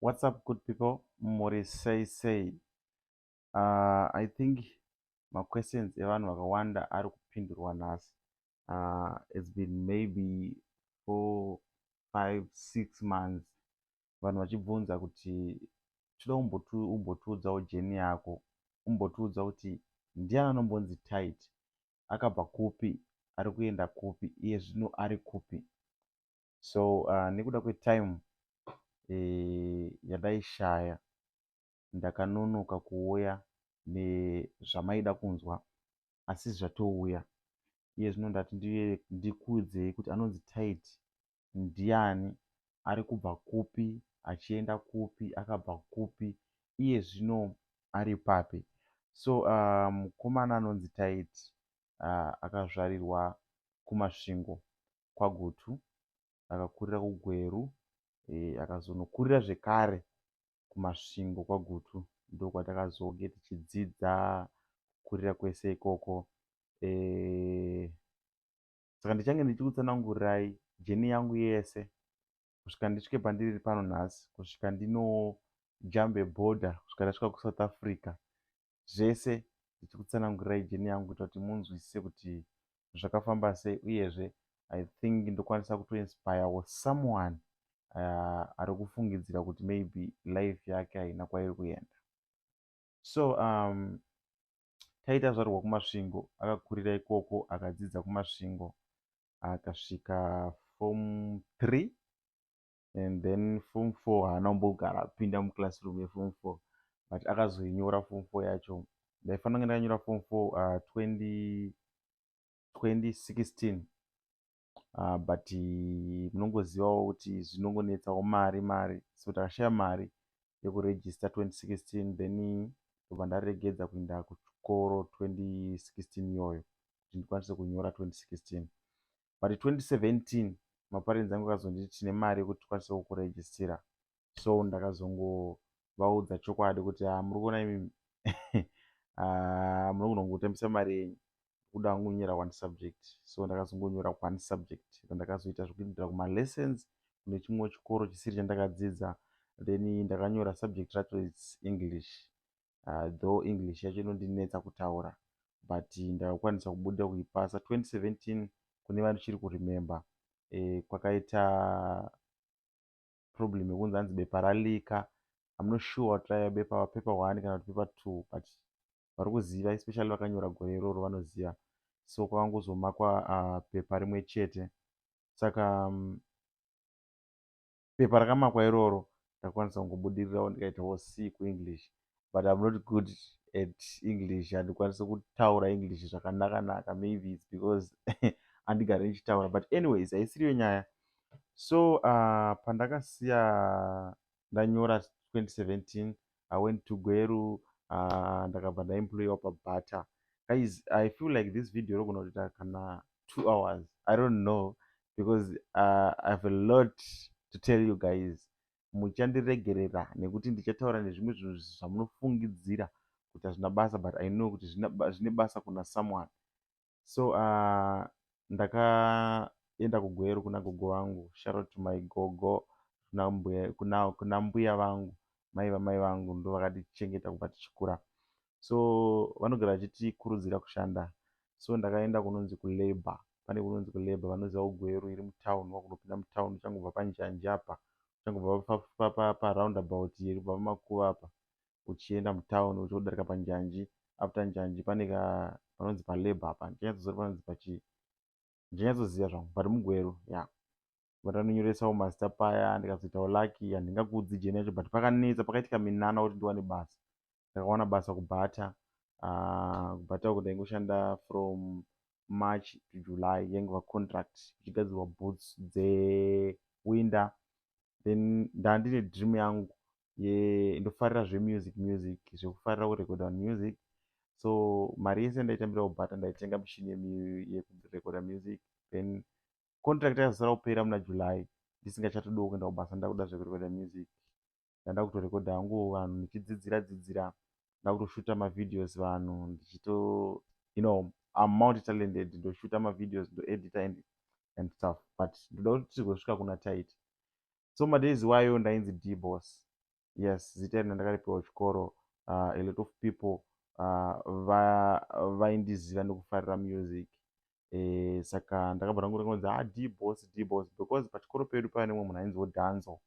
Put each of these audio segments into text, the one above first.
What's up good people muri sei sei uh, I think maquestions evanhu vakawanda ari kupindurwa nhasi uh, it's been maybe four five six months vanhu vachibvunza kuti tinoda umbotiudzawo jeni yako umbotiudza kuti ndiani anombonzi tight akabva kupi ari kuenda kupi iye zvino ari kupi so uh, nekuda kwetime e, yadaishaya ndakanonoka kuuya nezvamaida kunzwa asi zvatouya iye zvino ndati ndikuudzei kuti anonzi tit ndiani ari kubva kupi achienda kupi akabva kupi iye zvino ari papi so uh, mukomana anonzi tit uh, akazvarirwa kumasvingo kwaGutu akakurira kuGweru akazonokurira zvekare kuMasvingo kwaGutu ndokwatakazonge tichidzidza kukurira kwese ikoko saka ndichange ndichikutsanangurirai jeni yangu yese kusvika ndisvike pandiri pano nhasi kusvika ndinojambe border kusvika ndasvika kusouth africa zvese ndichikutsanangurirai jeni yangu kuita kuti munzwisise kuti zvakafamba sei uyezve i think ndokwanisa kutoinspire was someone uh, ari kufungidzira kuti maybe life yake haina kwairi kuenda so um, taita zvarwa kumasvingo akakurira ikoko akadzidza kumasvingo akasvika form three and then form four haana kumbogara apinda muclassroom yeform four but akazoinyora form four yacho ndaifanira kunge ndakanyora form four uh, 20, 2016 uh, but munongozivawo kuti zvinongonetsawo mari mari so takashaya mari yekuregister 2016 then ndobva ndaregedza kuenda kuchikoro 2016 iyoyo kuti ndikwanise kunyora 2016 but 2017 maparents angu akazonditi tine mari yekuti tikwanise kukuregistira so ndakazongovaudza chokwadi kuti ha ah, muri kuona imi ah, muri kunongotambisa mari yenyu kuda kungonyora one subject so ndakazongonyora one subject then ndakazoita zvekuindira kumalessons kune chimwewo chikoro chisiri chandakadzidza then ndakanyora subject racho its english though English yacho inondinetsa kutaura but ndakakwanisa kubuda kuipasa 2017 kune vandichiri kuremember eh, kwakaita problem yekunzi hanzi bepa ralika I'm not sure what raiva bepa paper one kana kuti paper two but vari kuziva especially vakanyora gore iroro vanoziva so kwakangozomakwa uh, pepa rimwe chete saka um, Pepa rakamakwa iroro ndakwanisa kungobudirirawo ndikaitawo C kuEnglish but I'm not good at English handikwanise kutaura English zvakanaka naka maybe it's because andigari ndichitaura but anyways haisiriyo nyaya so uh, pandakasiya ndanyora 2017 i went to gweru uh, ndakabva ndaemployiwa pabutter guys i feel like this video rogona kutoita kana two hours i don't know because uh, i have a lot to tell you guys muchandiregerera nekuti ndichataura nezvimwe zvinhu zvamunofungidzira kuti hazvina basa but i know kuti zvine basa kuna someone so uh, ndakaenda kugweru kuna gogo vangu sharot my gogo kuna mbuya, kuna, kuna mbuya vangu mai vamai vangu ndo vakatichengeta kubva tichikura so vanogara vachitikurudzira kushanda so ndakaenda kunonzi kulabour pane kunonzi kulabour vanoziva ugweru iri mutown wakunopinda mutown uchangobva panjanji apa uchangobva paroundabout iri kubva pamakuva apa uchienda mutown uchodarika panjanji after njanji pane ka panonzi palabor apa ndichanyatsoziva panonzi pachii ndichanyatsoziva zvangu but mugweru ya yeah. but anonyoresawo mazita paya ndikazoitawo lucky handingakuudzi jeni yacho but pakanetsa pakaitika minana kuti ndiwane basa ndakawana basa kubhata ah, kubhata uko ndaingoshanda from march to july yaingova contract ichigadzirwa boots dzewinter then ndandine dream yangu ndofarira zvemusic music zvekufarira kurekoda vanhu music so mari yese ndaitambira kubhata ndaitenga mushini yekurekoda music then contract yazosara kupera muna july ndisingachatodo kuenda kubasa ndakuda zvekurekoda music ndanda kutorekoda hangu vanhu ndichidzidzira dzidzira ndakutoshuta mavideos vanhu ndichito you know am multi talented ndoshuta mavideos ndoedita and and stuff but ndoda kuti tigosvika kuna tit so madays iwayo ndainzi dbos yes zita iri ndandakaripiwa kuchikoro uh, a lot of people uh, vaindiziva va nekufarira music e, saka ndakabva ndangu ndakanonzi a ah, dbos dbos because pachikoro pedu paiva nemwe munhu ainziwo danzo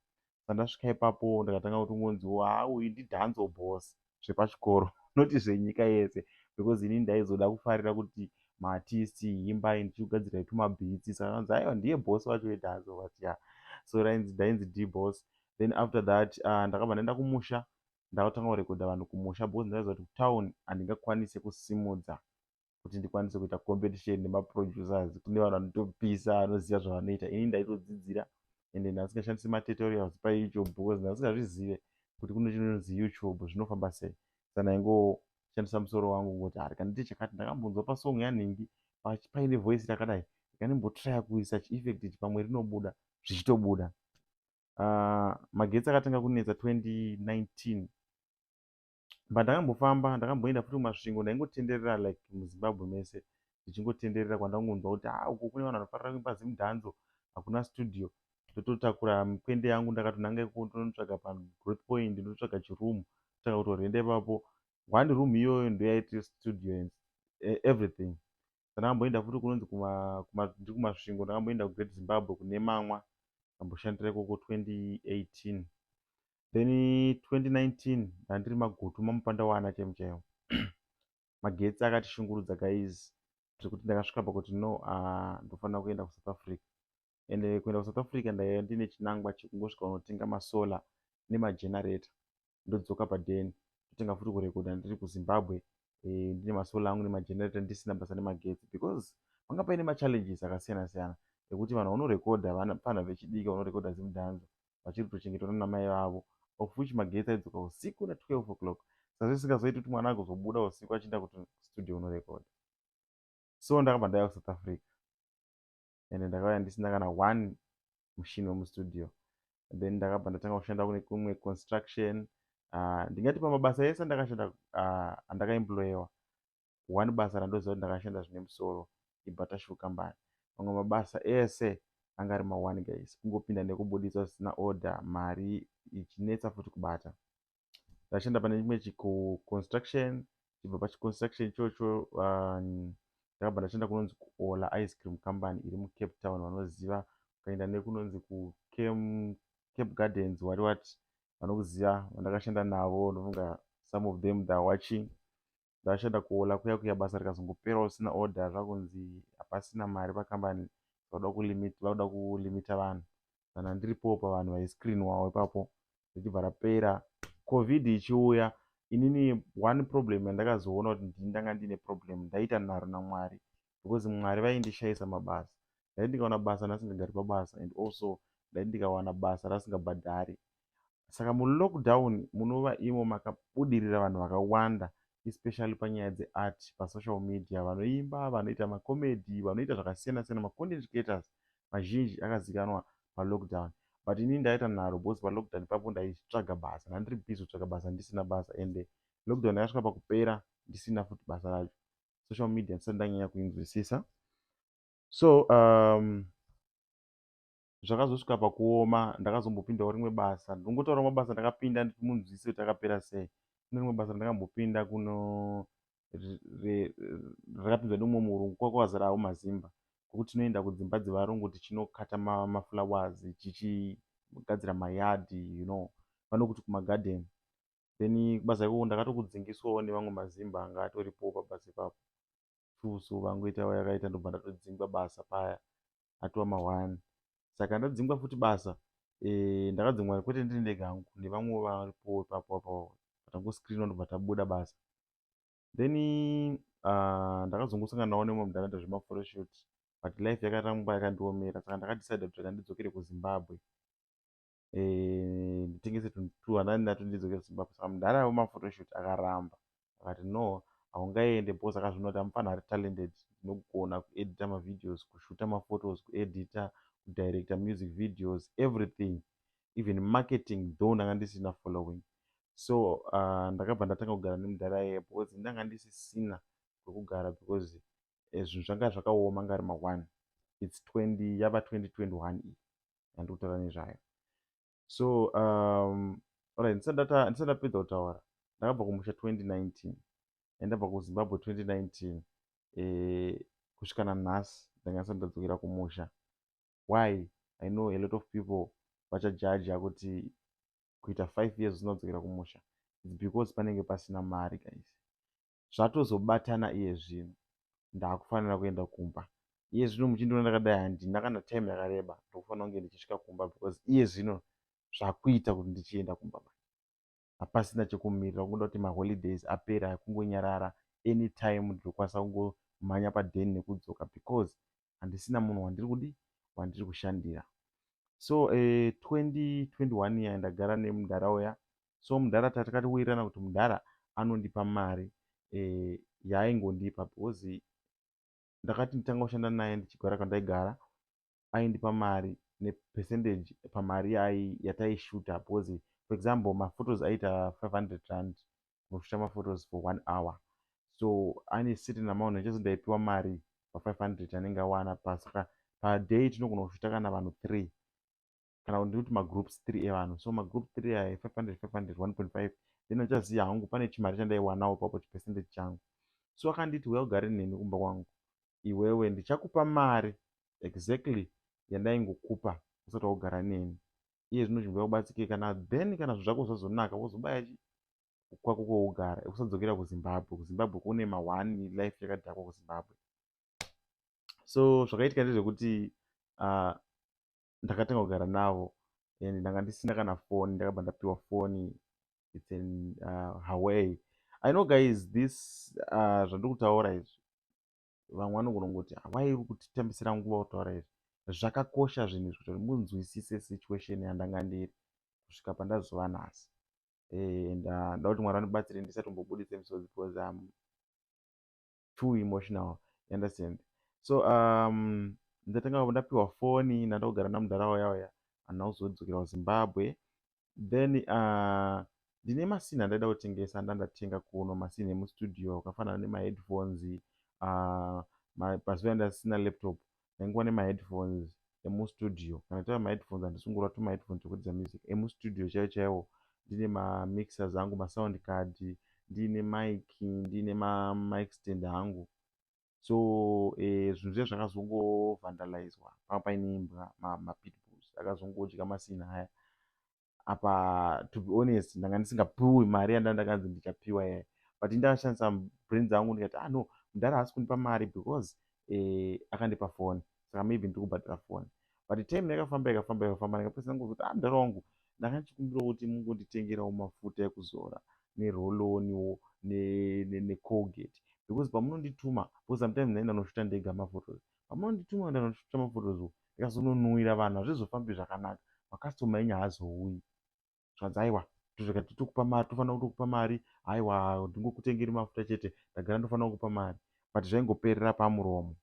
sandasvika ipapo ndakatanga kuti ngonziwo a ah, uyu ndidanzo bos zvepachikoro not zvenyika yese because ini ndaizoda kufarira kuti maartisti imbai ndichikugadzirai tumabhitsi sakanzi aiwa ndiye boss vacho vedhanzo but ya so rainzi ndainzi d boss then after that uh, ndakabva ndaenda kumusha ndakatanga kurekodha vanhu kumusha because ndaiziva kuti kutown handingakwanise kusimudza kuti ndikwanise kuita competition nemaproducers kune vanhu vanotopisa vanoziva zvavanoita ini ndaitodzidzira ende ndasingashandisi matutorials payoutube because ndasingazvizive kuti kune chinonzi youtube zvinofamba sei sa ndaingoshandisa musoro wangu kungoti hari kana ndiite chakati ndakambonzwa pasong yanhingi paine voice rakadai ikanimbotry kuisa chieffect ichi pamwe rinobuda zvichitobuda uh, magetsi akatanga kunetsa 2019 but ndakambofamba ndakamboenda futi kumasvingo ndaingotenderera like muzimbabwe mese ndichingotenderera kwandakungonzwa kuti ha ah, uko kune vanhu vanofarira kuimba zimudhanzo hakuna studio ndototakura mikwende yangu ndakatonanga ikoko ndonotsvaga pagrowth point ndototsvaga chiroom tsvaga kutorenda ipapo hwandi room iyoyo ndoyaiti studio and eh, everything Ndakamboenda futi kunonzi kuma, kuma, ndiri kumasvingo ndakamboenda kugreat zimbabwe kune mamwa ndamboshandira ikoko 2018 then 2019 ndandiri magutu mamupanda waana chaimu chaiwo magetsi akatishungurudza guys zvekuti ndakasvika pakuti no uh, ndofanira kuenda kusouth africa and kuenda kusouth africa ndaiva ndine chinangwa chekungosvika unotenga masolar nemagenerator ndodzoka paden totenga futi kurekoda ndiri kuzimbabwe eh, ndine masolar angu nemagenerator ndisina basa nemagetsi because panga paine machallenges akasiyana siyana ekuti vanhu vanorekoda vapana vechidiki vanorekoda zimudhanza vachiri kutochengetwa nanamai vavo of which magetsi aidzoka usiku na 12 o'clock saka zvisingazoiti kuti mwana agozobuda usiku achienda kuti studio unorekoda so ndakabva ndaya kusouth africa and ndakauya ndisina kana one mushini wemustudio then ndakabva ndatanga kushanda kune kumwe construction ah, ndingati pamabasa ese andakashanda ah, andakaemployewa one basa randoziva kuti ndakashanda zvine musoro ibatashu kambani mamwe mabasa ese anga ari maone guys kungopinda nekubuditswa zvisina order mari ichinetsa futi kubata ndachienda pane chimwe chikuconstruction chibva pachiconstruction ichocho ndakabva ndachienda kunonzi kuola ice cream company iri mucape town vanoziva ukaenda nekunonzi kucape gardens wari wati vanokuziva vandakashanda navo ndofunga some of them theyare watching Ndakashanda kuHola kuya kuya basa rikazongoperawo risina order zvakunzi hapasina mari pakambani vakuda kulimit vakuda kulimita vanhu kana ndiripowo pavanhu vaiscreenwawo ipapo richibva rapera covid ichiuya inini one problem yandakazoona kuti ndini ndanga ndiine problem ndaiita nharo namwari because mwari vaindishayisa mabasa ndaiti ndikawana basa ndasingagari pabasa and also ndaiti ndikawana basa rasingabhadhari saka mulockdown munova imo makabudirira vanhu vakawanda especially panyaya dzeart pasocial media vanoimba vanoita macomedy vanoita zvakasiyana siyana macontent creators mazhinji akazikanwa palockdown but ini ndaita nharo bcause palockdown papo ndaitsvaga basa ndandiri busy kutsvaga basa ndisina basa ende lockdown yakasvika pakupera ndisina futi basa racho social media ndisati ndanyanya kuinzwisisa so um, zvakazosvika pakuoma ndakazombopindawo rimwe basa ndinongotaura mabasa ndakapinda munzwisise kuti akapera sei kune rimwe basa ndakambopinda kuno rakapinzwa neumwe murungu kwako wazarawo mazimba kwekuti tinoenda kudzimba dzevarungu tichinokata maflowers tichigadzira mayadi you know vanokuti kumagadheni then kubasa ikoko ndakatokudzingiswawo nevamwe mazimba anga atoripowo pabasa ipapo true so vangoita vayakaita ndobva ndatodzingwa basa paya atova mahwani saka ndadzingwa futi basa eh, ndakadzingwa kwete ndiri ndega hangu nevamwewo varipowo ipapo apo vatangoscreenwa ndobva tabuda basa then ah, ndakazongosangana nawo nemwe mudharaunda zvemaforeshot but life yakatanga kuva yakandiomera saka ndakadecide kuti rega ndidzokere kuzimbabwe eh, nditengese 200 nato ndidzoke kuzimbabwe saka mudhara wemaphotoshoot akaramba akati no haungaende bos akazviona kuti amufana ari talented ndinogona kuedita mavideos kushuta maphotos kuedita kudirecta music videos everything even marketing though ndanga ndisina following so uh, ndakabva ndatanga kugara nemudhara yeye because ndanga ndisisina kwekugara because eh, zvinhu zvanga zvakaoma ngari ma1 its 20 yava 2021 iyi yandiri kutaura nezvayo so um, orit ndisati ndapedza kutaura ndakabva kumusha 2019 and ndabva kuzimbabwe 2019 eh, kusvika nanhasi ndanga ndisati ndadzokera kumusha why i know a lot of people vachajaja kuti kuita five years usina kudzokera kumusha its because panenge pasina mari guys zvatozobatana iye zvino ndakufanira kuenda kumba iye zvino muchindiona ndakadai handina kana time yakareba ndokufanira kunge ndichisvika kumba because iye zvino zvakuita kuti ndichienda kumba mai hapasina chekumirira kungoda kuti maholidays apera kungonyarara anytime ndinokwanisa kungomhanya paden nekudzoka because handisina munhu wandiri kudi wandiri kushandira so 2021 eh, iya ndagara nemudhara uya so mudhara tatakati wirirana kuti mudhara anondipa mari eh, yaaingondipa because ndakati nditanga kushanda naye ndichigara kwandaigara aindipa mari nepercentage pamari yataishuta because for example maphotos aita 500 rand kunoshuta maphotos for one hour so ane certain amount nechezo ndaipiwa mari pa 500 anenge awana pasaka paday tinogona kushuta kana vanhu three kana kuti ndikuti magroups 3 evanhu so magroup 3 aya 500 500 1.5 then uchaziva hangu pane chimari chandaiwanawo papo chipercentage changu so akanditi uya ugare neni kumba kwangu iwewe ndichakupa mari exactly yandaingokupa usati waugara neni iye zvino zvimbo yakubatsike kana then kana zvinhu zvako zvazonaka wozobaya chi kwako kwougara kusadzokera kuzimbabwe kuzimbabwe kune mahwani life yakadhakwa kuzimbabwe so zvakaitika ndezvekuti uh, ndakatanga kugara navo and ndanga ndisina kana foni ndakabva ndapiwa foni its an uh, haway i know guys this uh, zvandiri kutaura izvi vamwe vanogona kuti hawai uri kutitambisira nguva kutaura izvi zvakakosha zvinhu izvi kuti munzwisise situation yandanga ndiri kusvika pandazova nhasi eh, and uh, ndoda kuti mwari vanibatsire ndisatombobudise misodzi because um, too emotional you understand so um ndatanga ndapiwa foni ndanda kugara namudhara waya waya handina kuzodzokera kuzimbabwe then uh, ndine masini andaida kutengesa ndandatenga kuno masini emustudio akafanana nemaheadphones uh, pazuva ndasina laptop ndaingova nemaheadphones emustudio kana tava maheadphones handisi kungorova tumaheadphones twekuridza music emustudio chaiwo chaiwo ndiine mamixers angu masound card ndiine mic ndiine mamic stand hangu so eh, zvinhu zviya zvakazongovandalizwa panga paine imbwa mapitbulls akazongodya masina haya apa to be honest ndanga ndisingapiwi mari yanda ndakanzi ndichapiwa yayi but ndakashandisa brain dzangu ndikati ah no mudhara haasi kundipa mari because eh, akandipa foni saka maybe ndiri kubhadhara foni but time yakafamba ikafamba ikafamba ndikapesana kuzoti ah mudhara wangu ndanga ndichikumbirawo kuti mungonditengerawo mafuta ekuzora neroloniwo necolgate ne, ne because pamunondituma because sometimes naina noshota ndega mafotos ne, pamandituma ndanotoita maphotos uko ndikazononhuwira vanhu hazvizofambi zvakanaka makastoma enyu haazouyi zvanzi aiwa tozvika titokupa mari tofanira kutokupa mari aiwa ndingokutengeri mafuta chete ndagara ndofanira kukupa mari but zvaingoperera pamuromo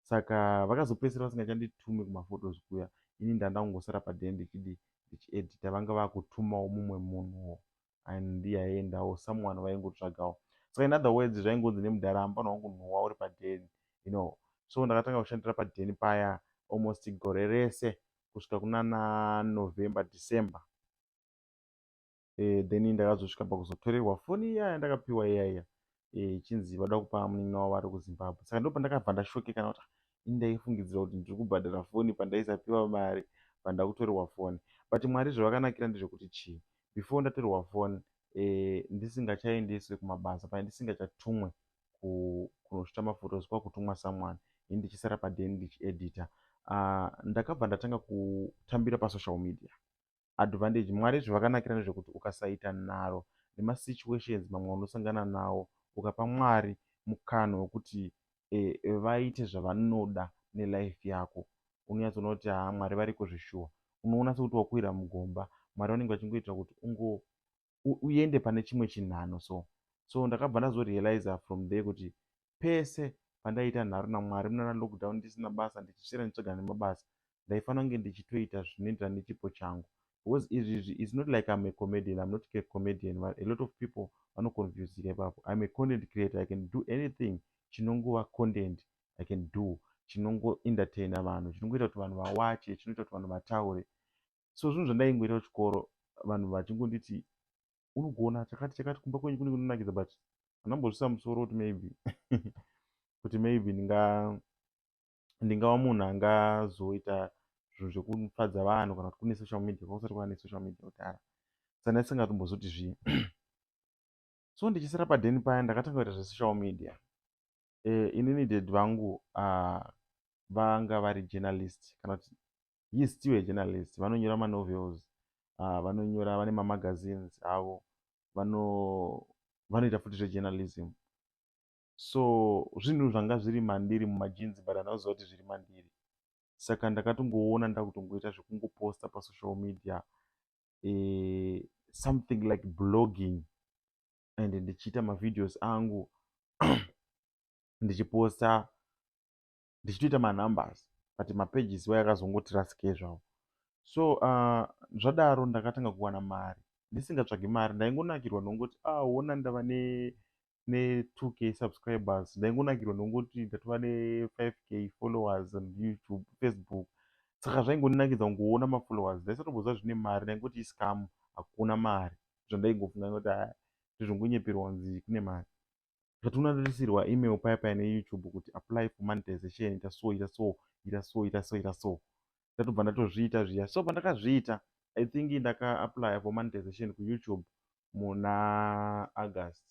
saka vakazopedzisira vasingachanditume kumaphotos kuya ini ndandangosara padhende chidi ndichiedita vanga vakutumawo mumwe munhuwo and yaiendawo someone vaingotsvagawo saka in other words zvaingonzi nemudhara hambana wangu nhuwa uri padheni you know so ndakatanga kushandira padheni paya almost gore rese kusvika kunana november december e, then ndakazosvika pakuzotorerwa foni iyaya ndakapiwa iyaiya eh, ichinzi vada kupa munin'ina wavo ari kuzimbabwe saka ndo pandakabva ndashokekana kuti ah, ini ndaifungidzira kuti ndiri kubhadhara foni pandaisapiwa mari pandakutorerwa foni but mwari zvavakanakira ndezvekuti chii before ndatorerwa foni eh, ndisingachaendeswe kumabasa pane ndisingachatumwe kunosvita mafotos kwakutumwa someone ini ndichisara paden ndichiedita ah, ndakabva ndatanga kutambira pasocial media advantage mwari zvevakanakira nezvekuti ukasaita nharo nemasituations mamwe unosangana nawo ukapa mwari mukana wekuti e, e, vaite zvavanoda nelife yako unonyatsoona kuti haa mwari variko zveshuwa unoona sekuti wakuwira mugomba mwari vanenge vachingoitira kuti ungo uende pane chimwe chinhano so so ndakabva ndazorealiza from there kuti pese pandaiita nharo namwari munana lockdown ndisina basa ndichisvira nditsvaga nemabasa ndaifanira kunge ndichitoita zvinoenderana nechipo changu because izvizvi is not like im a comedian im not a comedian but a lot of people vanoconfusika ipapo im a content creator i can do anything chinongova content i can do chinongoentertaina vanhu chinongoita kuti vanhu vawache chinoita kuti vanhu vataure so zvinhu zvandaingoita kuchikoro vanhu vachingonditi unogona chakati chakati kumba kwenyu kunenge kunonakidza but andambozvisa musoro kuti maybe kuti maybe ndinga ndingava munhu angazoita zvinhu zvekufadza vanhu kana kuti kune social media kwakusati kwava nesocial media kudhara sana isingatombozoti zvii so ndichisara padheni paya ndakatanga kuita zvesocial media e, inini dad vangu uh, vanga vari journalist kana kuti he is still a journalist vanonyora manovels uh, vanonyora vane mamagazines avo vano vanoita futi zvejournalism so zvinhu zvanga zviri mandiri mumajinzi but andakuziva kuti zviri mandiri saka ndakatongoona ndakutongoita zvekungoposta pasocial media eh, something like blogging and ndichiita mavideos angu ndichiposta ndichitoita manumbers but mapages waya akazongoti rasike zvavo so uh, zvadaro ndakatanga kuwana mari ndisingatsvagi mari ndaingonakirwa nongoti ah wona ndava ne ne 2k subscribers ndaingonakirwa nongoti ndatova ne 5k followers on youtube facebook saka zvaingoninakidza kungoona mafollowers ndaisatoboziva zvine mari ndaingoti iscam hakuna mari zvandaingofunga ngoti ah, ndizvongonyeperwa kunzi kune mari zvationa toisirwa email paya paya neyoutube kuti apply for monetization ita so ita so ita so ita so ita so ndatobva ndatozviita zviya so pandakazviita i think ndakaapply for monetization kuyoutube muna august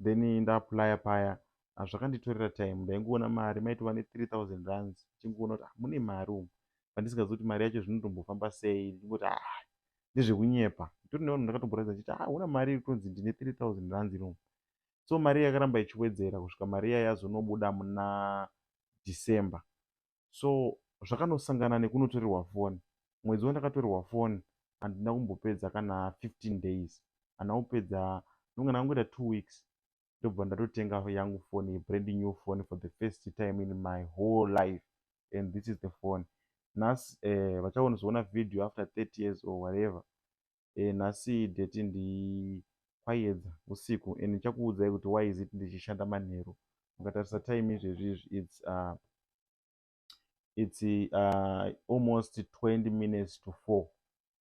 then ndaapply paya ah, zvakanditorera time ndaingoona mari maitova ne3000 runs ichingoona kuti ah, mune mari umu pandisingazi kuti mari yacho zvinotombofamba sei ndingoti ah, ndezvekunyepa nditori nevanhu ndakatomboratidza ndichiti ah huna mari iri kutonzi ndine 3000 rands iri umu so mari yakaramba ichiwedzera kusvika mari iya yazonobuda muna december so zvakanosangana nekunotorerwa foni mwedzi wandakatorerwa foni handina kumbopedza kana 15 days handina kupedza ndonge ndangoita two weeks ndobva ndatotenga yangu phone yebrand new phone for the first time in my whole life and this is the phone nhasi eh, vachaonozoona video after 30 years or whatever eh, nhasi deti ndikwayedza usiku and ndichakuudzai kuti why is it ndichishanda manheru mukatarisa time izvezvi izvi its uh, its uh, almost 20 minutes to four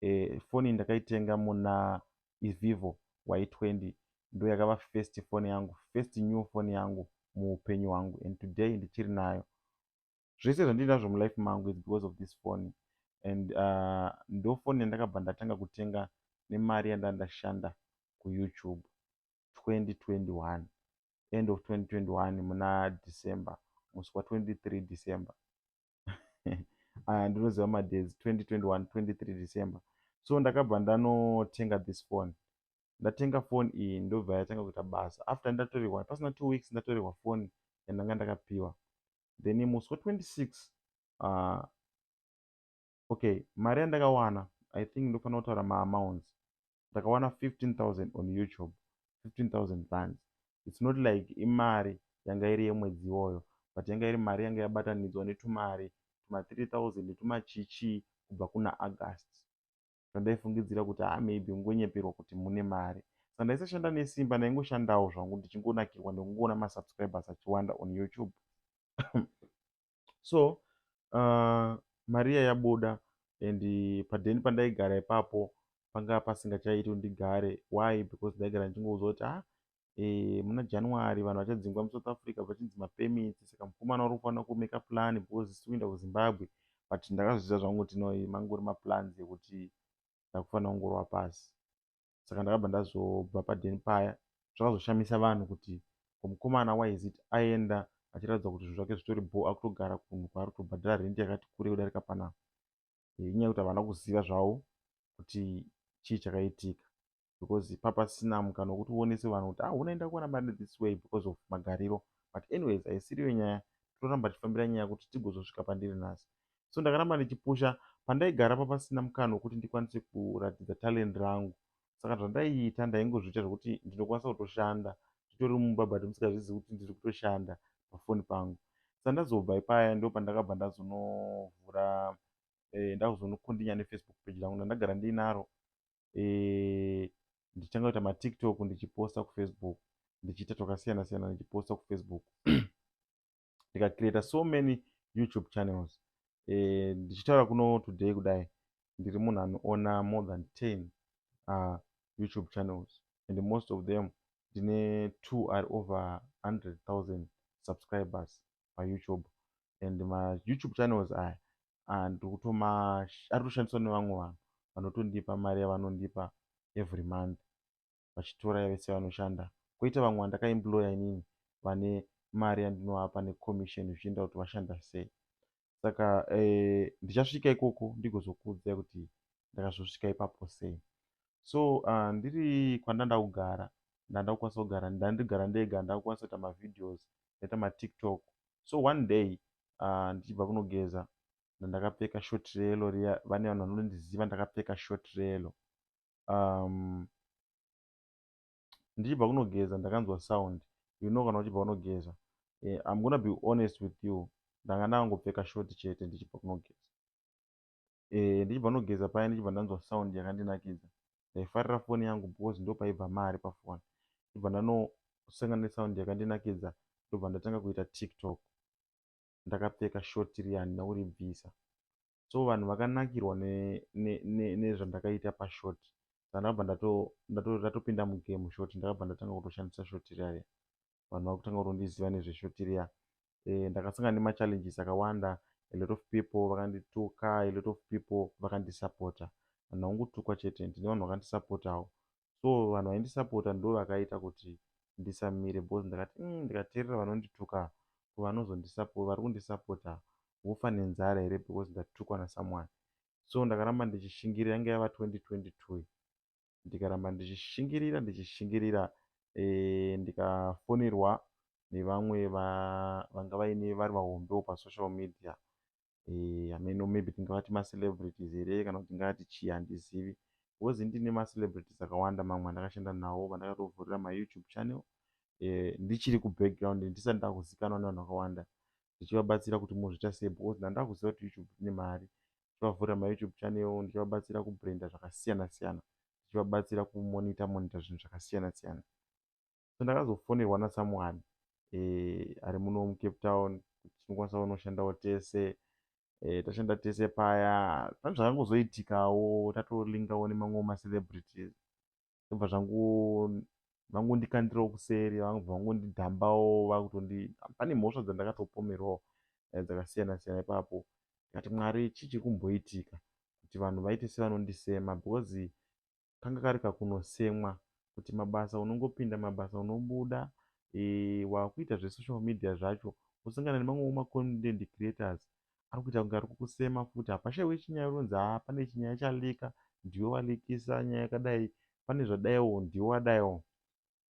eh, foni iyi ndakaitenga muna ivivo y20 ndo yakava first foni yangu first new foni yangu muupenyu hwangu and today ndichiri nayo zvese zvandinazvo mulife mangu is because of this foni and uh, ndo foni yandakabva ndatanga kutenga nemari yandanga ndashanda kuyoutube 2021 end of 2021 muna december musi wa 23 december aya ndinoziva madays 2021 23 december so ndakabva ndanotenga this phone ndatenga phone iyi ndobva yatanga kuita basa after ndatorehwa pasina two weeks ndatorehwa phone yandanga ndakapiwa then musi wa 26 uh, okay mari yandakawana i think ndofanira kutaura maamounts ndakawana 15000 on youtube 15000 rands its not like imari yanga iri yemwedzi iwoyo but yanga iri mari yanga yabatanidzwa netumari tuma 3000 netumachichii kubva kuna august zvandaifungidzira kuti ha maybe ungonyeperwa kuti mune mari saka ndaisashanda nesimba ndaingoshandawo zvangu ndichingonakirwa nekungoona masubscribers achiwanda on youtube so uh, maria yabuda and padheni pandaigara ipapo panga pasingachaiti kuti ndigare why because ndaigara ndichingoudzwa kuti ah e, muna january vanhu vachadzingwa musouth africa vachinzi mapemiti saka mukomana uri kufanira kumeka plan because isi kuenda kuzimbabwe but ndakazviziva zvangu kuti no mangori maplans ekuti ndakufanira kungorwa pasi saka ndakabva ndazobva padheni paya zvakazoshamisa vanhu kuti komukomana waizit aenda achiratidza kuti zvinhu zvake zvitori bo akutogara kunhu kwaari kutobhadhara rendi yakati kure kudarika pana eh, inyaya yekuti havana kuziva zvavo kuti chii chakaitika because papasina mukana wekuti uonese vanhu kuti ah unaenda kuwana mari this way because of magariro but anyways haisiriyo nyaya tinoramba tichifambira nyaya kuti tigozosvika pandiri nhasi so ndakaramba ndichipusha pandaigara pa pasina mukana wekuti ndikwanise kuratidza talent rangu saka zvandaiita ndaingozviita zvekuti ndinokwanisa kutoshanda nditori mumba but musingazvizivi kuti ndiri kutoshanda pafoni pangu sandazobva ipaya ndo pandakabva ndazonovhura eh, ndakuzonokondinya nefacebook page rangu ndandagara ndiinaro eh, ndichitanga kuita matiktok ndichiposta kufacebook ndichiita twakasiyana siyana ndichiposta kufacebook ndikacreata so many youtube channels eh, ndichitaura kuno today kudai ndiri munhu anoona more than 10 uh, youtube channels and most of them ndine two are over 100 000 subscribers payoutube and mayoutube channels aya ah, ndikutomaari kutoshandiswa nevamwe vanhu vanotondipa mari yavanondipa every month vachitoraya vese vanoshanda koita vamwe vandakaemployer inini vane mari yandinovapa necommission zvichienda kuti vashanda sei saka eh, ndichasvika ikoko ndigozokuudzai kuti ndakazosvika ipapo sei so uh, ndiri kwandanda kugara ndanda kukwanisa kugara ndandigara ndega ndakukwanisa kuita mavideos ndaita matiktok so one day uh, ndichibva kunogeza ndandakapfeka short relo riya vane vanhu vanonondiziva ndakapfeka short relo um, ndichibva kunogeza ndakanzwa sound you know kana uchibva kunogeza yeah, i'm gonna be honest with you ndanga ndangopfeka shoti chete ndichibva kunogeza eh, ndichibva kunogeza paya ndichibva ndanzwa sound yakandinakidza ndaifarira foni yangu because ndo paibva mari pafoni ndibva ndanosangana nesound yakandinakidza ndobva ndatanga kuita tiktok ndakapfeka shoti riya handina kuribvisa so vanhu vakanakirwa nezvandakaita pashort saka ndakabva ndatopinda mugame short ndakabva ndatanga kutoshandisa short riya riya vanhu vakutanga kutondiziva nezveshort riya eh, ndakasangana nemachallenges akawanda a lot of people vakandituka a lot of people vakandisapota vanhu vakungotukwa chete ndine vanhu vakandisapota avo so vanhu vaindisapota ndovakaita kuti ndisamire bcause ndikati mm, ndikateerera vanondituka kuvanozondisapota vari kundisapota vofa nenzara here because ndatukwa nasomeone so ndakaramba ndichishingirira yange yava 2022 ndikaramba ndichishingirira ndichishingirira e, ndikafonerwa nevamwe vanga vaine vari vahombewo pasocial media hameno maybe tingavati macelebrities here kana kuti tingavati chii handizivi bcoz ini ndine macelebrities akawanda mamwe andakashanda nawo vandakatovhurira mayoutube channel eh, ndichiri kubackground ndisati ndakuzikanwa nevanhu vakawanda ndichivabatsira kuti mozviita sei bcoz ndandakuziva kuti youtube ine mari ndichivavhurira mayoutube channel ndichivabatsira kubrenda zvakasiyana siyana ndichivabatsira kumonita monita zvinhu zvakasiyana siyana so ndakazofonerwa na someone eh, ari muno mucape town tinokwanisa kunoshandawo tese eh, tashanda tese paya pane zvakangozoitikawo tatolingawo nemamwe macelebrities ndobva zvangu vangondikandirawo kuseri vangobva vangondidhambawo vakutondi pane mhosva dzandakatopomerwawo eh, dzakasiyana siyana ipapo ndikati mwari chii chiri kumboitika kuti vanhu vaite sevanondisema because kanga kari kakunosemwa kuti mabasa unongopinda mabasa unobuda e, wakuita zvesocial media zvacho usangana nemamwewo macontent creators ari kuita kunge ari kukusema futi hapashaiwe chinyaya unonzi haa pane chinyaya chalika ndiwe walikisa nyaya yakadai pane zvadaiwo ndiwe wadaiwo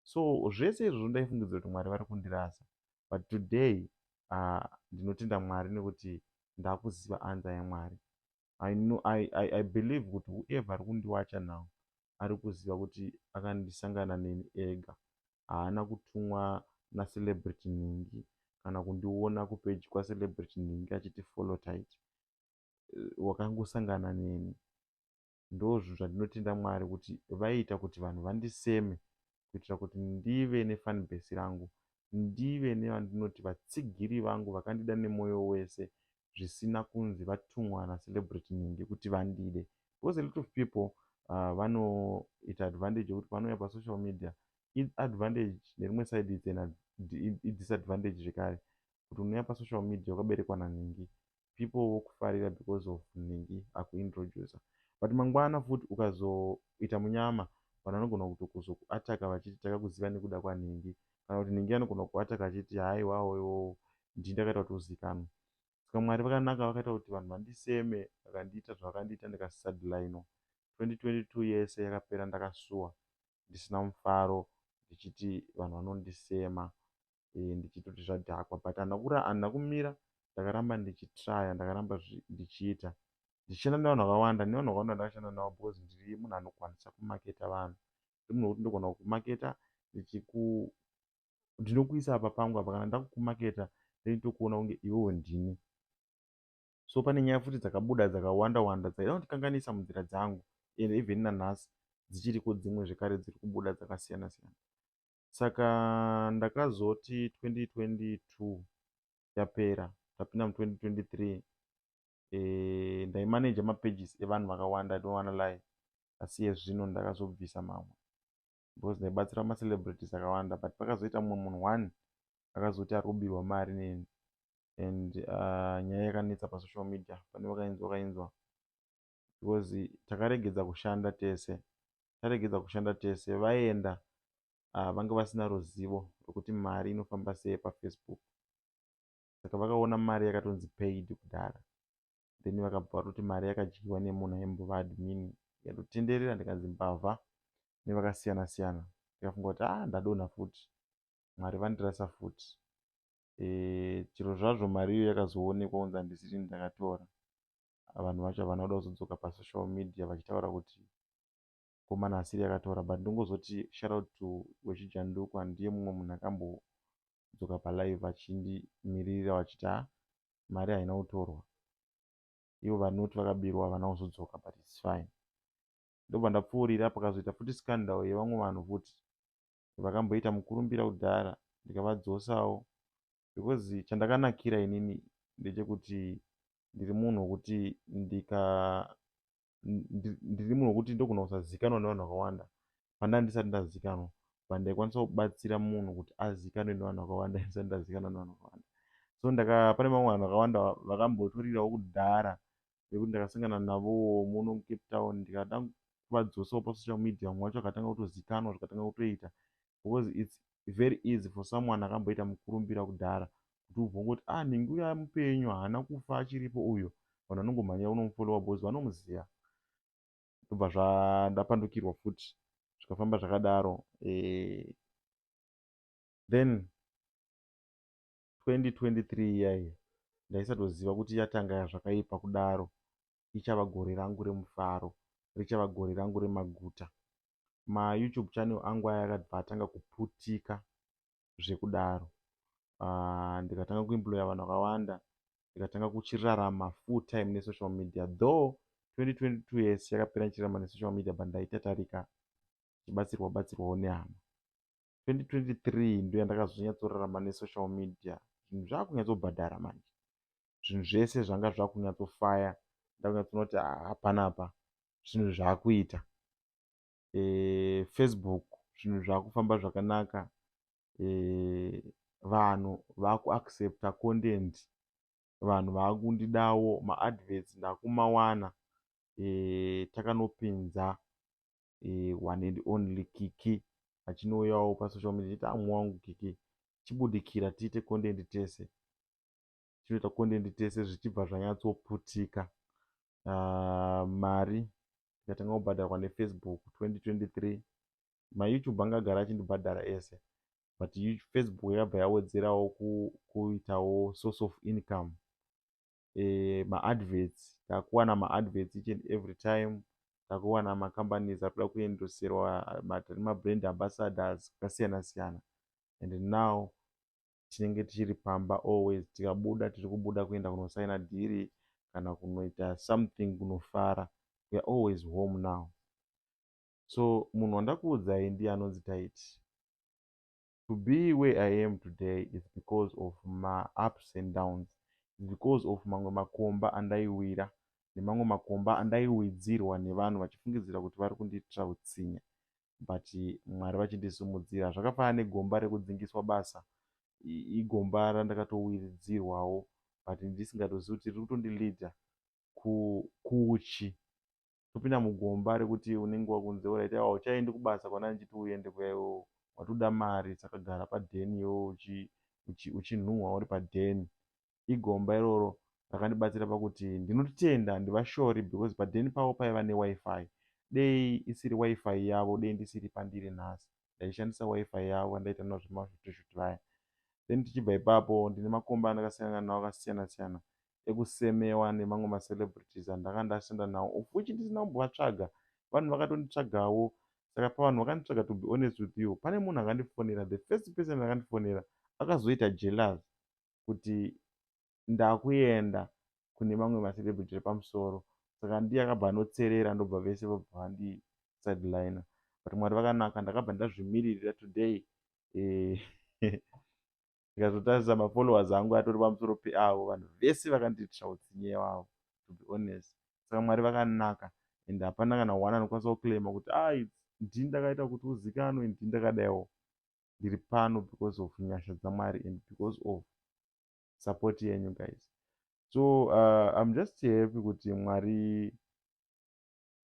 so zvese izvozvo ndaifungidzira kuti mwari vari kundirasa but today uh, ndinotenda mwari nekuti ndakuziva anza yamwari I know I, I, I believe kuti whoever ari kundiwacha now ari kuziva kuti akandisangana neni ega haana kutumwa nacelebrity nhingi kana kundiona kupeji kwacelebrity nhingi achiti follow tight eh, wakangosangana neni ndozvinhu zvandinotenda mwari kuti vaiita kuti vanhu vandiseme kuitira kuti ndive nefanbase rangu ndive nevandinoti vatsigiri vangu vakandida nemoyo wese zvisina kunzi vatumwa nacelebrity nhingi kuti vandide because a lot of people uh, vanoita advantage yekuti vanouya pasocial media advantage nerimwe side itsena idisadvantage zvekare kuti unouya pasocial media wakaberekwa nanhingi people vokufarira because of nhingi akuintroducer but mangwana futi ukazoita munyama vanhu vanogona kutokuzokuataka vachiti takakuziva nekuda kwanhingi kana kuti nhingi anogona kukuataka achiti haiwawo iwowo ndii ndakaita kuti uzikanwe saka mwari vakanaka vakaita kuti vanhu vandiseme vakandiita zvavakandiita ndikasisadlaino 2022 yese yakapera ndakasuwa ndisina mufaro ndichiti vanhu vanondisema eh, ndichitoti zvadhakwa but handina kumira ndakaramba ndichitraya ndakaramba ndichiita ndichienda nevanhu vakawanda nevanhu vakawanda ndakashanda navo because ndiri munhu anokwanisa kumaketa vanhu ndiri munhu wekuti ndogona kukumaketa ndichiku ndinokuisa apa pangu apa kana ndakukumaketa ndoitokuona kunge iwewo ndini so pane nyaya futi dzakabuda dzakawanda wanda dzaida kundikanganisa munzira dzangu and even nanhasi dzichiriko dzimwe zvekare dziri kubuda dzakasiyana siyana saka ndakazoti 2022 yapera tapinda mu 2023 eh, ndaimanaja mapages evanhu vakawanda i don't wanna lie asi yezvino ndakazobvisa mamwe because ndaibatsira macelebrities akawanda but pakazoita mumwe munhu one akazoti ari kubirwa mari neni and uh, nyaya yakanetsa pasocial media pane vakainzwa vakainzwa because takaregedza kushanda tese taregedza kushanda tese vaenda uh, vanga vasina ruzivo rwekuti mari inofamba sei pafacebook saka vakaona mari yakatonzi paid kudhara then vakabva vatoti mari yakadyiwa nemunhu aimbova admin yatotenderera ndikanzi mbavha nevakasiyana siyana ndikafunga kuti ah ndadonha futi mwari vandirasa futi e, chiro zvazvo mari iyo yakazoonekwa kunzi handisiri ndakatora vanhu vacho havana kuda kuzodzoka pasocial media vachitaura kuti komana asiri akatora but ndongozoti shoutout to wechijandukwa ndiye mumwe munhu akambodzoka palive achindimiririra vachiti ha mari haina kutorwa ivo vanoti vakabirwa havana kuzodzoka but its fine ndobva ndapfuurira pakazoita futi scandal yevamwe vanhu futi vakamboita mukurumbira kudhara ndikavadzosawo because chandakanakira inini ndechekuti ndiri munhu wekuti ndika ndiri munhu wekuti ndogona kusazikanwa nevanhu vakawanda pandanga ndisati ndazikanwa but ndaikwanisa kubatsira munhu kuti azikanwe nevanhu vakawanda ndisati ndazikanwa nevanhu vakawanda so ndaka pane vamwe vanhu vakawanda vakambotorirawo kudhara nekuti ndakasangana navo muno mucape town ndikada kuvadzosawo pasocial media mumwe wacho akatanga kutozikanwa zvikatanga kutoita because its very easy for someone akamboita mukurumbira kudhara kuti ubvongoti ah ningi uya mupenyu haana kufa achiripo uyo vanhu vanongomhanyira unomufolowa bcause vanomuziva ndobva zvandapandukirwa futi zvikafamba zvakadaro eh, then 2023 iya iya ndaisatoziva kuti ichatanga zvakaipa kudaro ichava gore rangu remufaro richava gore rangu remaguta mayoutube channel angu aya akabva atanga kuputika zvekudaro uh, ndikatanga kuemploya vanhu vakawanda ndikatanga kuchirarama full time nesocial media though 2022 yes yakapera ndichirarama nesocial media but ndaitatarika chibatsirwa batsirwawo nehama 2023 ndoyandakazonyatsorarama nesocial media zvinhu zvakunyatsogobhadhara manje zvinhu zvese zvanga zvakunyatsofaya ndakunyatsoona kuti ah, hapana apa zvinhu zvakuita e, facebook zvinhu zvakufamba zvakanaka e, vanhu vakuaccepta content vanhu vakundidawo maadverts ndakumawana e, takanopinza eh, one and only kiki achinouyawo pasocial media chiti amwe wangu kiki chibudikira tiite content tese chinoita content tese zvichibva zvanyatsoputika uh, mari ikatanga kubhadharwa nefacebook 2023 mayoutube anga agara achindibhadhara ese but facebook yakabva yawedzerawo kuitawo source of income eh, maadverts takuwana maadverts each and every time takuwana macompanies akuda kuendoserwa matiri mabrand ambassadors akasiyana siyana and now tinenge tichiri pamba always tikabuda tiri kubuda kuenda kunosaina dhiri kana kunoita something kunofara weare always home now so munhu wandakuudzai ndiye anonzi taiti to be where I am today is because of ma ups and downs, is because of mamwe makomba andaiwira nemamwe makomba andaiwidzirwa nevanhu vachifungidzira kuti vari kundiitira utsinye but Mwari vachindisimudzira. Zvakafanana negomba rekudzingiswa basa, igomba randakatowiridzirwawo but ndisingatozivi kuti riri kutondileader kuuchi. topinda mugomba rekuti unenge wakunze ora ita hauchaendi kubasa kwana ndichiti uende kuya iwewe watoda mari saka gara padheni iwewe uchi uchinhuhwa uri padheni igomba iroro rakandibatsira pakuti ndinotenda handivashori because padheni pavo paiva newifi dei isiri wifi yavo dei ndisiri pandiri nhasi ndaishandisa wifi yavo andaita navo zvemashuteshuti vaya then tichibva ipapo ndine makomba andakasangana nawo akasiyana siyana ekusemewa nemamwe macelebrities andanga ndasenda nawo of which ndisina kumbovatsvaga vanhu vakatonditsvagawo saka pavanhu vakanditsvaga to be honest with you pane munhu akandifonera the first person akandifonera akazoita jealous kuti ndakuenda kune mamwe macelebrity repamusoro saka ndiye akabva anotserera ndobva vese vabva vandi sideliner but mwari vakanaka ndakabva ndazvimiririra today eh, ndikazotarisa mafollowers angu atori pamusoro peavo vanhu vese vakandiitira utsinye wavo to be honest saka mwari vakanaka and hapana kana one anokwanisa kuclaima kuti a ah, ndi ndakaita kuti uzikanwe ndi ndakadaiwo ndiri pano because of nyasha dzamwari and because of support yenyu guys so uh, im just happy kuti mwari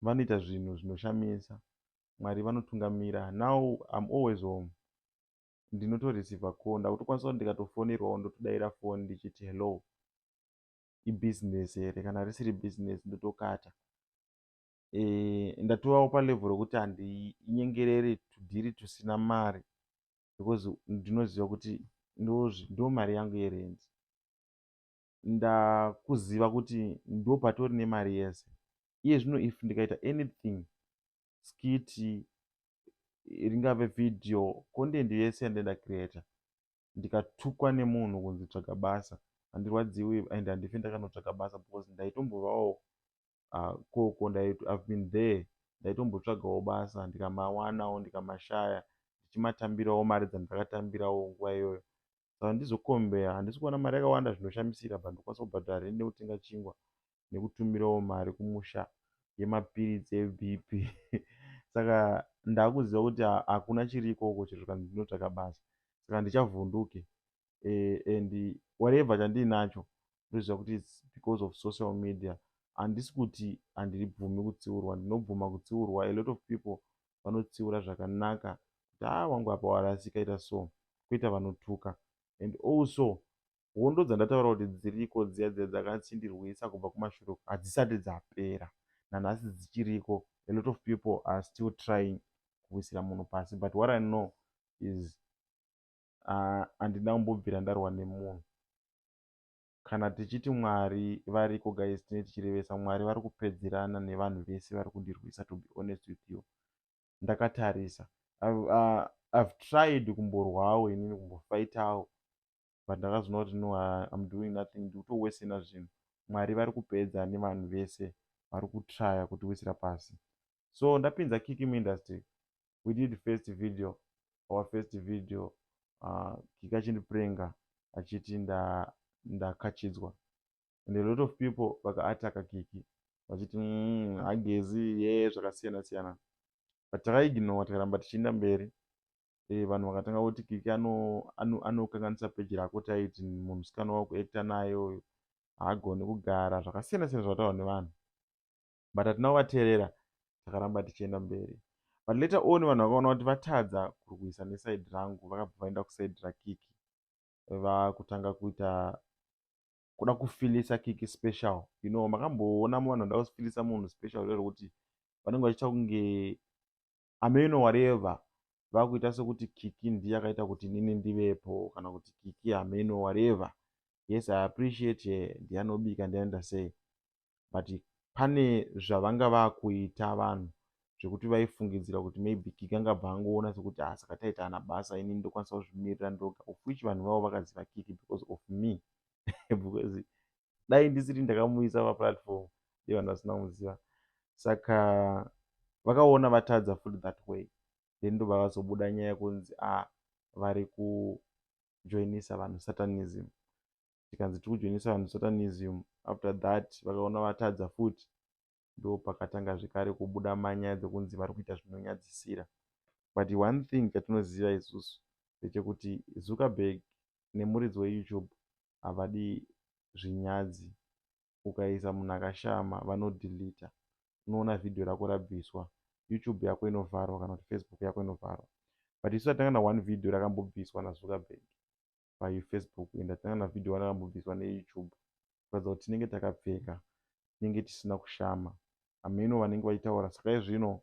vanoita zvinhu zvinoshamisa mwari vanotungamira now im always home ndinotoreceiver call ndakutokwanisa kuti ndikatofonerwawo ndotodaira foni ndichiti hello ibusiness here kana risiri business ndotokata e, ndatovawo palevel rokuti handinyengereri tudhiri tusina mari because ndinoziva kuti ndo mari yangu yerendi ndakuziva kuti ndo patori nemari yese iye zvino if ndikaita anything skit ringave video content yese yandinenge ndacreator ndikatukwa nemunhu kunzi tsvaga basa handirwadziwi and handife ndakanotsvaga basa because ndaitombovawo ah, koko ihave been there ndaitombotsvagawo basa ndikamawanawo ndikamashaya ndichimatambirawo mari dzandakatambirawo nguva iyoyo saka ndizokombeya handisi kuona mari yakawanda zvinoshamisira but ndokwanisa kubhadhara rende kutenga chingwa nekutumirawo mari kumusha yemapiritsi eBP saka ndakuziva kuti hakuna chiri ikoko chero zvikanzi ndinotsvaka basa saka handichavhunduke eh, and whatever chandiinacho ndoziva kuti its because of social media handisi kuti handiribvumi kutsiurwa ndinobvuma kutsiurwa a lot of people vanotsiura zvakanaka kuti haa ah, wangu apa warasika ita so kuita vanotuka and also hondo dzandataura kuti dziriko dziya dziya dzakachindirwisa kubva kumashure uko hadzisati dzapera nanhasi dzichiriko a lot of people are still trying kuwisira munhu pasi but what i know is ah, handina uh, kumbobvira ndarwa nemunhu kana tichiti mwari variko guys tine tichirevesa mwari vari kupedzerana nevanhu vese vari kundirwisa to be honest with you ndakatarisa i've, uh, I've tried kumborwawo inini kumbofaitawo but ndakazoona kuti no im doing nothing ndikutowesena zvinhu mwari vari kupedza nevanhu vese vari kutraya kutiwisira pasi so ndapinza kiki muindustry we did first video our first video uh, kiki achindiprenga achiti ndakachidzwa nda and a lot of people vakaataka kiki vachiti mm, hagezi ye zvakasiyana siyana but takaignore tikaramba tichienda mberi eh, vanhu vakatanga kuti kiki anokanganisa ano, ano peji rako taiti munhu sikana wakuekta naye uyu haagoni kugara zvakasiyana siyana zvataura nevanhu but hatina kuvateerera takaramba tichienda mberi but later on vanhu vakaona kuti vatadza kurwisa nesaidi rangu vakabva vaenda kusaidi rakiki vakutanga kuita kuda kufilisa kiki special you know makamboona muvanhu vada kufilisa munhu special rero kuti vanenge vachiita kunge hameno wareva vakuita sekuti kiki ndiye akaita kuti nini ndivepo kana kuti kiki hameno wareva yes i appreciate her ndiye anobika ndiye anoita sei but pane zvavanga vakuita vanhu zvekuti vaifungidzira kuti maybe kiki angabva angoona sekuti ah saka taita ana basa ini ndokwanisa kuzvimirira ndoga of which vanhu vavo vakaziva kiki because of me because dai ndisiri ndakamuisa paplatform dei vanhu vasina kumuziva saka vakaona vatadza futi that way then ndobva vazobuda nyaya yekunzi a ah, vari kujoinisa vanhu satanism tikanzi tiri kujoinisa vanhu satanism after that vakaona vatadza futi ndo pakatanga zvekare kubuda manyaya dzekunzi vari kuita zvinonyadzisira but one thing chatinoziva isusu ndechekuti zuckerberg nemuridzi weyoutube havadi zvinyadzi ukaisa munhu akashama vano deleter unoona video rako rabviswa youtube yako inovharwa kana kuti facebook yako inovharwa but isu tatanga na one video rakambobviswa nazuckerberg pafacebook and tatanga na video one rakambobviswa neyoutube kuratidza kuti tinenge takapfeka tinenge tisina kushama hameno vanenge vachitaura saka izvino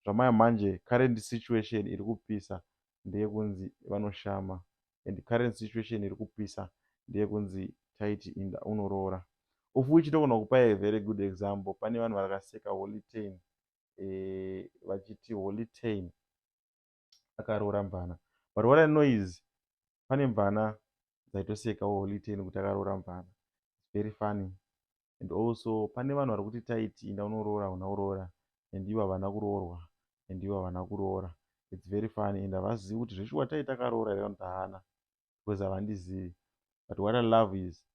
zvamaya manje current situation iri kupisa ndeyekunzi vanoshama and current situation iri kupisa ndeyekunzi taiti inda unoroora ufu ichitogona kupa a very good example pane vanhu vakaseka holitain e, eh, vachiti holitain akaroora mvana but what i know is pane mvana dzaitosekawo holitain kuti akaroora mvana very funny and also pane vanhu vari kuti taiti inda unoroora hauna kuroora and ivo havana kuroorwa and ivo havana kuroora its very funny and havazivi kuti zveshuwa tai takaroora here vanoti haana because havandizivi but what i love is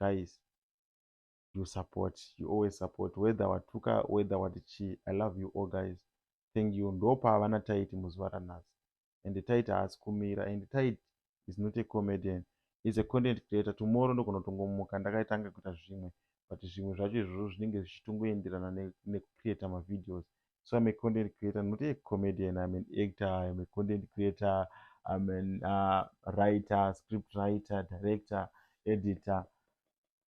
guys you support you always support whether watuka whether wati chii i love you all guys thank you ndopa havana taiti muzuva ranhasi and tight haasi kumira and tight is not a comedian is a content creator tomorrow ndogona kutongomuka ndakaitanga kuita zvimwe but zvimwe zvacho izvozvo zvinenge zvichitongoenderana nekucreata mavideos so im a content creator not a comedian im an actor im a content creator im an uh, writer script writer director editor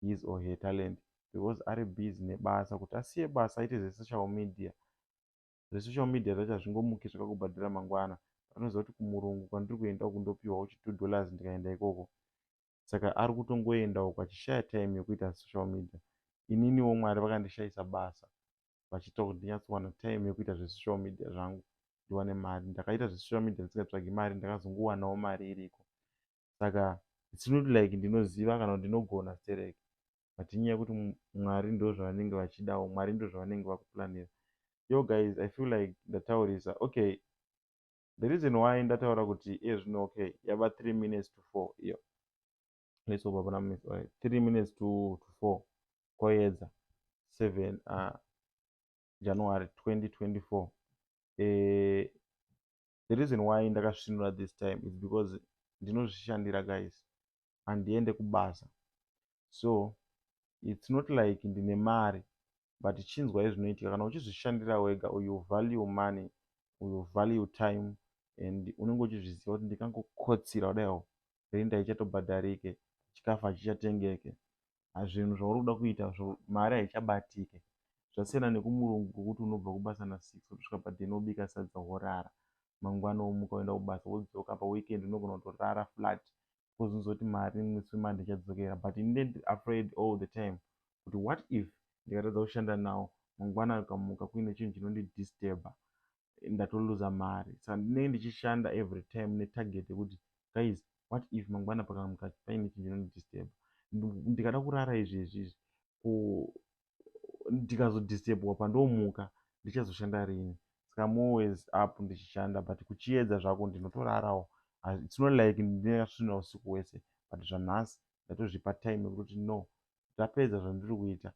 his or her talent because ari busy nebasa kuti asiye basa aite zvesocial media zvesocial media zvacho hazvingomuki zvakakubhadhira mangwana anoziva kuti kumurungu kwandiri kuenda uku ndopiwawo chi two dollars ndikaenda ikoko saka ari kutongoenda uku achishaya time yekuita social media ininiwo mwari vakandishayisa basa vachiita kuti ndinyatsowana time yekuita zvesocial media zvangu ndiwane mari ndakaita zvesocial media ndisingatsvagi mari ndakazongowanawo mari iriko saka its not like ndinoziva kana ndinogona sterek but inyaya yekuti mwari ndozvavanenge vachidawo mwari ndozvavanenge vakuplanira yo guys i feel like ndataurisa okay the reason why ndataura kuti iye zvino okay yava 3 minutes to 4 iyo let's hope hapana minutes right 3 minutes to, to 4 koyedza 7 uh, january 2024 eh, the reason why ndakasvinura this time is because ndinozvishandira guys handiende kubasa so its not like ndine mari but chinzwa yezvinoitika kana uchizvishandira wega uyu value money uyu value time and unenge uchizviziva kuti ndikangokotsira kudaiwo renda ichatobhadharike chikafu hachichatengeke hazvinhu zvauri kuda kuita zvo mari haichabatike zvasiyana nekumurungu kwokuti unobva kubasa nasix wotosvika paden wobika sadza worara mangwana womuka woenda kubasa wodzoka paweekend unogona kutorara flat bcause unozoti mari musi wemande ichadzokera but ini ndend afraid all the time kuti what if ndikatadza kushanda nawo mangwana akamuka kuine chinhu chinondidisturba ndatoluza mari saka ndinenge ndichishanda every time netarget yekuti guys what if mangwana pakamuka paine chinhu chinondidisturba ndikada kurara izvi izvi izvi ko ndikazodisturbwa pandomuka ndichazoshanda rini saka am always up ndichishanda but kuchiedza zvako ndinotorarawo its not like ndinasvina usiku hwese but zvanhasi ndatozvipa time yekuti no ndapedza zvandiri kuita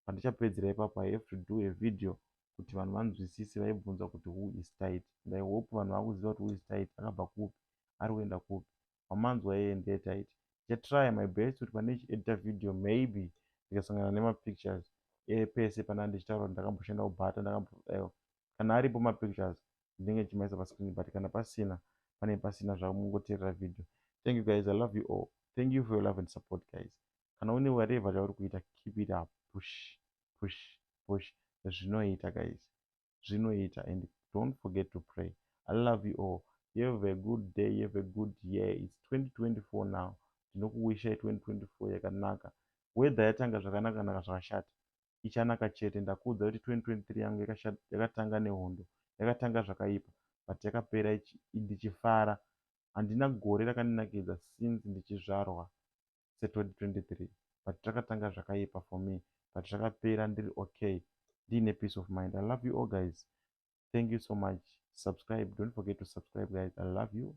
pandichapedzera ipapo i have to do a video kuti vanhu vanzwisise vaibvunza kuti who is tight and i hope vanhu vakuziva kuti who is tight akabva kupi ari kuenda kupi wamanzwa yeye ndeye tight ndichatry my best kuti pane chiedita video maybe ndikasangana nemapictures epese pana ndichitaura kuti ndakamboshanda kubhata ndakambodaiwa kana aripo mapictures ndinenge ndichimaisa pascreen but kana pasina pane pasina zvamungoteerera video thank you guys i love you all thank you for your love and support guys kana une whatever chauri kuita keep it up push push push zvinoita guys zvinoita and don't forget to pray i love you all you have a good day you have a good year its 2024 now ndinokuwishai 2024 yakanaka weather yatanga zvakanaka naka zvakashata ichanaka chete ndakuudza kuti 2023 yangu yakatanga nehondo yakatanga zvakaipa but yakapera ndichifara handina gore rakandinakidza since ndichizvarwa se 2023 but takatanga zvakaipa for me but zvakapera ndiri okay ndiine peace of mind i love you all guys thank you so much subscribe don't forget to subscribe guys i love you